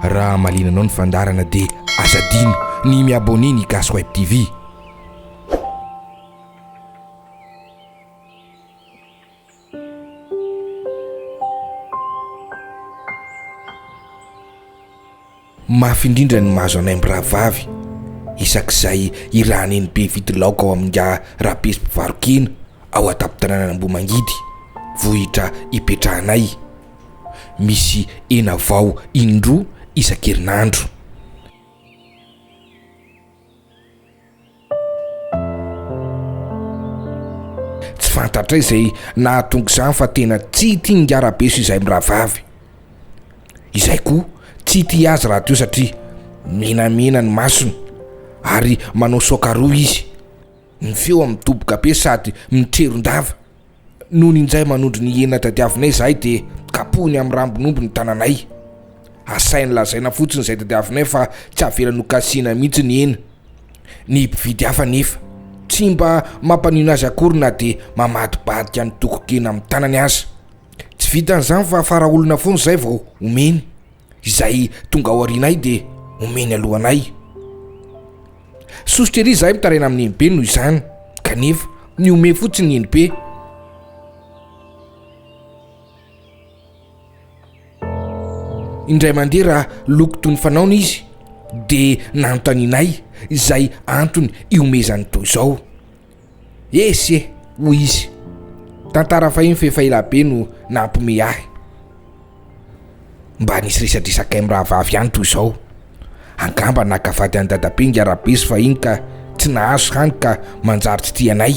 Raha hamaliana anao ny fandaharana dia aza adino ny mi abonner ny gasy web TV. Mafy indrindra ny mahazo anay mirahavavy isak'izay irahanay ny be vidy laoka ao amin'ny Nga Rapezy Mpivaro-kena ao an-tampon-tanànan'Ambohimangidy, vohitra ipetrahanay. misy hena vao indroa isan-kerinandro. Tsy fantatray izay nahatonga izany fa tena tsy tia ngarabeso izay mirahavavy. Izay koa tsy tia azy rahateo satria menamena ny masony ary manao saoka roa izy. Ny feo mitoboka be sady mitreron-dava. Nony injay manondro ny hena tadiavinay izahay dia kapohiny amin'ny rambon'omby ny tananay. Asainy lazaina fotsiny izay tadiavinay fa tsy avelany ho kasihina mihitsy ny hena. Ny mpividy hafa anefa, tsy mba mampanino azy akory na dia mamadibadika ny tokon-kena amin'ny tanany aza. Tsy vitan'izany fa fara olona foana izay vao omeny. Izay tonga ao aorianay dia omeny alohanay. Sosotra ery izahay mitaraina amin'ny eny be noho izany, kanefa nihomehy fotsiny ny eny be. Indray mandeha raha loko toy ny fanaony izy dia nanontanianay izay antony ihomehezany toy izao. Ese! hoy izy. Tantara fahiny fa efa ela be no nampiomehy ahy. Mba nisy resadresaka amin'ny rahavavy ihany toy izao. Angamba naka vady an'i Dadabe ingahy Rabezy fahiny ka tsy nahazo hany ka manjary tsy tia anay.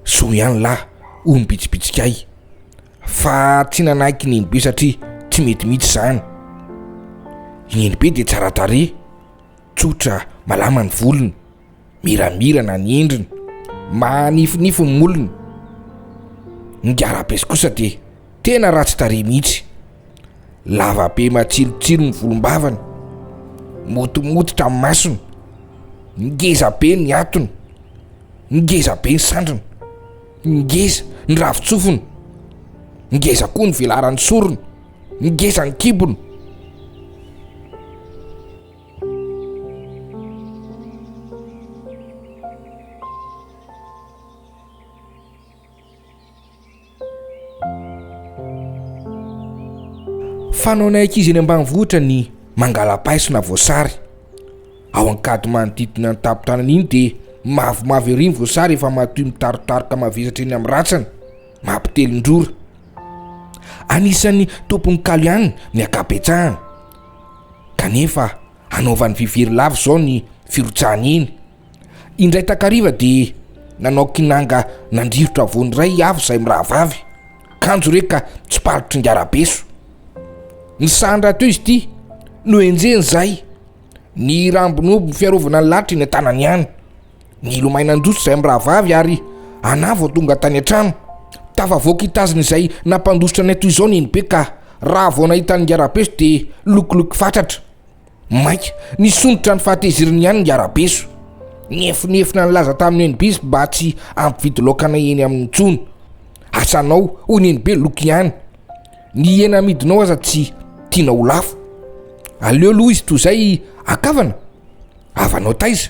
Soa ihany lahy, hoy ny bitsibitsika ahy. Fa tsy nanaiky ny Nenibe satria tsy mety mihitsy izany. I Nenibe dia tsara tarehy, tsotra, malama ny volony. Miramirana ny endriny, mahanifinify ny molony. Ny garapes kosa dia tena ratsy tarehy mihitsy. Lava be matsilotsilo ny volom-bavany, motomototra ny masony, ngeza be ny hatony, ngeza be ny sandriny, ngeza ny ravin-tsofiny, ngeza koa ny velaran'ny sorony, ngeza ny kibony. Fanaonay ankizy eny ambanivohitra ny mangala-paiso na voasary. Ao Ankady manodidina ny tampon-tanana iny dia mavomavo ery ny voasary efa matoy mitarotaroka mavesatra eny amin'ny ratsany, mampitelin-drora. Anisan'ny tompon'ny kalo ihany ny ankabetsahany. kanefa hanaovany vy very lava izao ny firotsahany iny. Indray takariva dia nanao kinanga nandrirotra voany iray i Avo izay mirahavavy, kanjo re ka tsipalotry ngarabeso. Nisahan rahateo izy ity, nohenjehiny izay, ny rambony omby fiarovana ny lalitra eny an-tanany ihany. Nilomay nandroso izahay mirahavavy ary anah vao tonga tany an-trano. Tafavoaka hitazona izay nampandositra anay toy izao Neny be ka raha vao nahita ny ngarabeso dia lokiloky fatratra. Maika nisondrotra ny fahatezerany ihany ny ngarabeso. Nihefonefona nilaza tamin'i Neny be mba tsy hampividy laoka anay eny aminy intsony. Asanao, hoy Neny be loky ihany. Ny hena amidinao aza tsy tiana ho lafo. Aleo aloha izy toy izay akavana. Avanao taiza?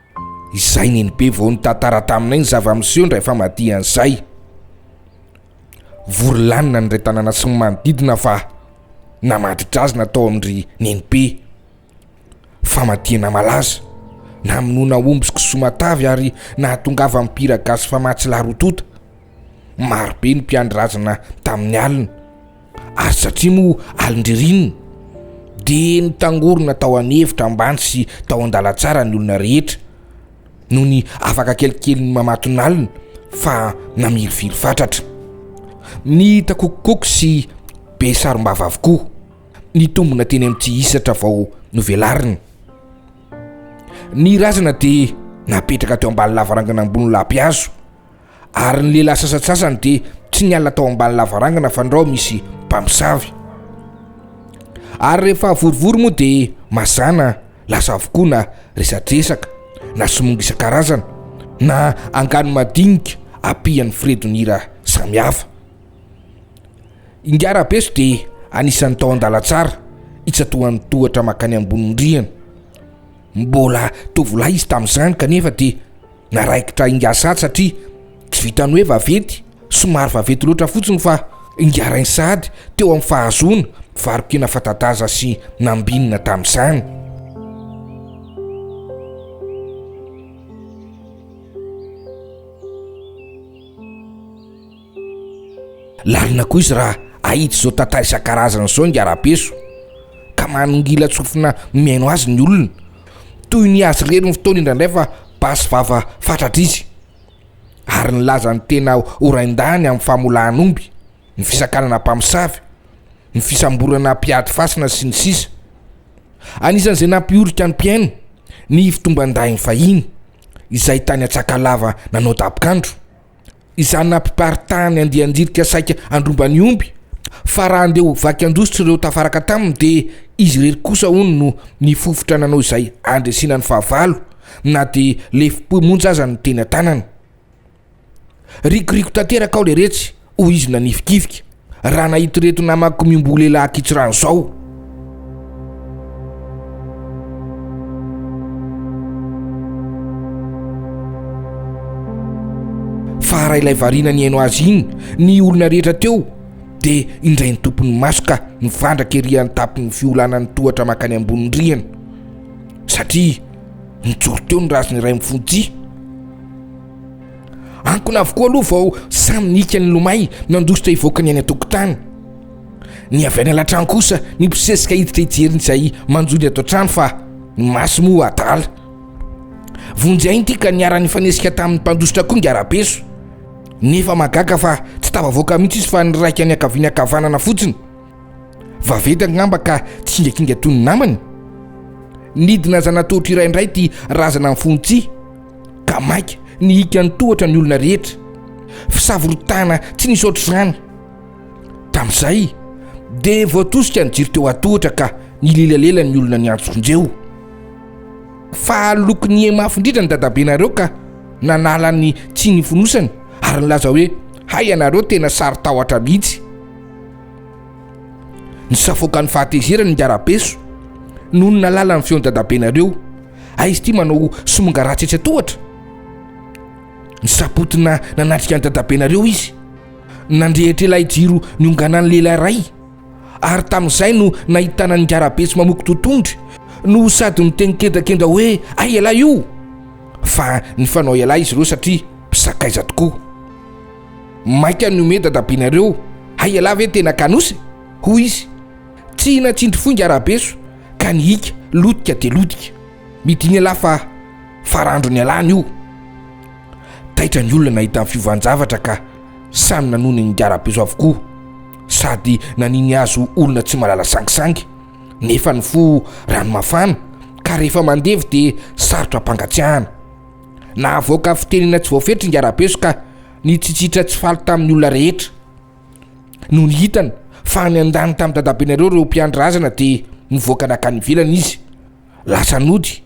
Izay neny be vao nitantara taminay ny zava-miseho indray famadihan' izay. Vory lanona ny iray tanàna sy ny manodidina fa namadri-drazana tao amin-dry nenibe. Famadihana malaza, namonoana omby sy kisoa matavy ary nahatongavan'ny mpihira gasy famatsy lahy roa tonta. Maro be ny mpiandry razana tamin'ny alina. Ary satria moa alin-dririnina dia nitangorona tao an'efitra ambany sy tao an-dalantsara ny olona rehetra, nony afaka kelikely ny mamatonalina fa namirifiry fatratra. Nitakokokoky sy be sarom-bava avokoa, nitombina teny amin'ny tihisatra vao novelarina. Ny razana dia napetraka teo ambany lavarangana ambony lahapihazo. ary ny lehilahy sasatsasany dia tsy niala tao ambany lavarangana fandrao misy mpamosavy ary rehefa vorivory moa dia mazana lasa avokoa na resadresaka na somonga isan-karazana na angano madinika apihan'ny firedon'ira samihafa ingarabeso dia anisan'ny tao an-dalantsara itsatohan'ny tohatra makany ambonin'ndriana mbola tovolahy izy tamin'izany kanefa dia naraikitra ingahy sahady satria tsy vitan'ny hoe vaventy somary vaventy loatra fotsiny fa ingahy rainsahady teo amin'ny fahazoana varokena fatadaza sy nambinina tamin'izany Lalina koa izy raha ahita izao tata isan-karazany izao ingahy Rabeso ka manongilan-tsofina mihaino azy ny olona. Toy ny azy irery ny fotoana indraindray fa basy vava fatratra izy ary nilaza ny tena ho rain-dahiny amin'ny famolahan'omby, ny fisakanana mpamosavy, ny fisamborana mpiady fasana sy ny sisa Anisan'izay nampiorika ny mpihaino ny fitomban-dahiny fahiny izay tany Antsakalava nanao dabokandro. izany nampiparitahany andian-jirika saika handrombany omby, fa raha handeha ho vaky an-dositra ireo tafaraka taminy dia izy irery kosa hono no nifofotra nanao izay handresena ny fahavalo na dia lefom-po monja aza no teny an-tanany. Rikoriko tanteraka aho leretsy, hoy izy nanifikifika. raha nahita ireto namako miomboha lehilahy ankitsy rano izao. Fara ilay variana ny haino azy iny, ny olona rehetra teo dia indray ny tompon'ny maso ka mivandraka ery an-tampon'ny fiolanan'ny tohatra makany ambonin'ny rihana satria nijoro teo ny raziny iray mifonjia. Ankona avokoa aloha vao samy nika nilomay nandositra hivoaka ny any an-tokotany. Ny avy any alatrano kosa nibosesika hiditra hijery ny izay manjo ny ato an-trano fa ny maso moa adala. Vonjy aina ity ka niara-nifanesika tamin'ny mpandositra koa ny arabeso. Nefa mahagaga fa tsy tafavoaka mihitsy izy fa niraika niankaviana ankavanana fotsiny. Vaventy angamba ka tsingakinga toy ny namany? Nidina zanat'ohatra iray indray ity razana mifono tsihy, ka maika nihiaka ny tohatra ny olona rehetra. Fisavoritahana tsy nisy ohatr'izany. Tamin'izay dia voatosika ny jiro teo an-tohatra ka nilelalela ny olona niantso vonjeo. Fa aloky nihe mafy indrindra ny dadabenareo ka nanala ny tsihy nifonosany ary nilaza hoe, Hay ianareo tena sarotahotra mihitsy. Nisafoaka ny fahatezerany ingahy Rabeso nony nahalala ny feon'i dadabenareo. Aiza ity manao somonga ratsy etsy an-tohatra? Nisapotina nanatrika an'i dadabenareo izy. Nandrehitra ilay jiro nionganan'ny lehilahy iray ary tamin'izay no nahitana an'i ingahy Rabeso mamoky totohondry no sady niteny kendrakendra hoe hay ialahy io! Fa nifanao ialahy izy ireo satria mpisakaiza tokoa. Maika ny homehy dadabenareo, hay ialahy ve tena kanosy? hoy izy. Tsy hina tsindry foinga rabeso ka ny hika lotika dia lotika. Midina ialahy fa farandro nialany io. Taitra ny olona nahita ny fiovan-javatra ka samy nanohy nininga rabeso avokoa. Sady naniny azy ho olona tsy mahalala sangisangy nefa ny fo rano mafana ka rehefa mandevy dia sarotra ampangatsiahana. Nahavoaka fitenena tsy voafetra i Ngarabeso ka nitsitsitra tsy faly tamin'ny olona rehetra. Nony hitany fa niandany tamin'ny dadabenareo ireo mpiandry razana dia nivoaka nankany ivelany izy. Lasa nody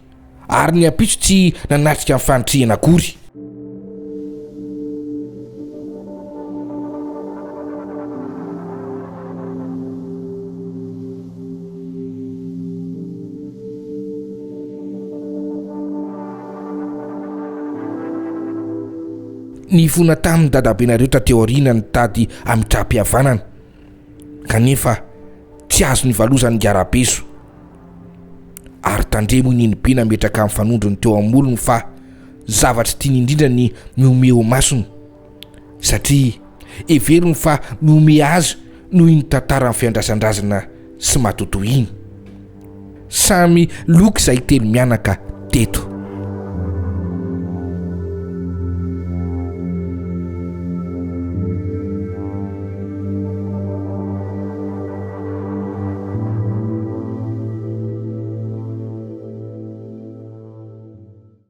ary ny ampitso tsy nanatrika ny fanitrihana akory. Nifona tamin'ny dadabenareo taty aoriana ny tady hamitram-pihavanana, kanefa tsy azo nivalozan'i Ngarabeso. Ary tandremo i Nenibe nametraka amin'ny fanondrony teo am-molony fa zavatra tiany indrindra ny mihomehy ho masony. satria heveriny fa mihomehy azy noho iny tantaran'ny fiandrasandrazana sy matotoa iny. Samy loka izahay telo mianaka teto.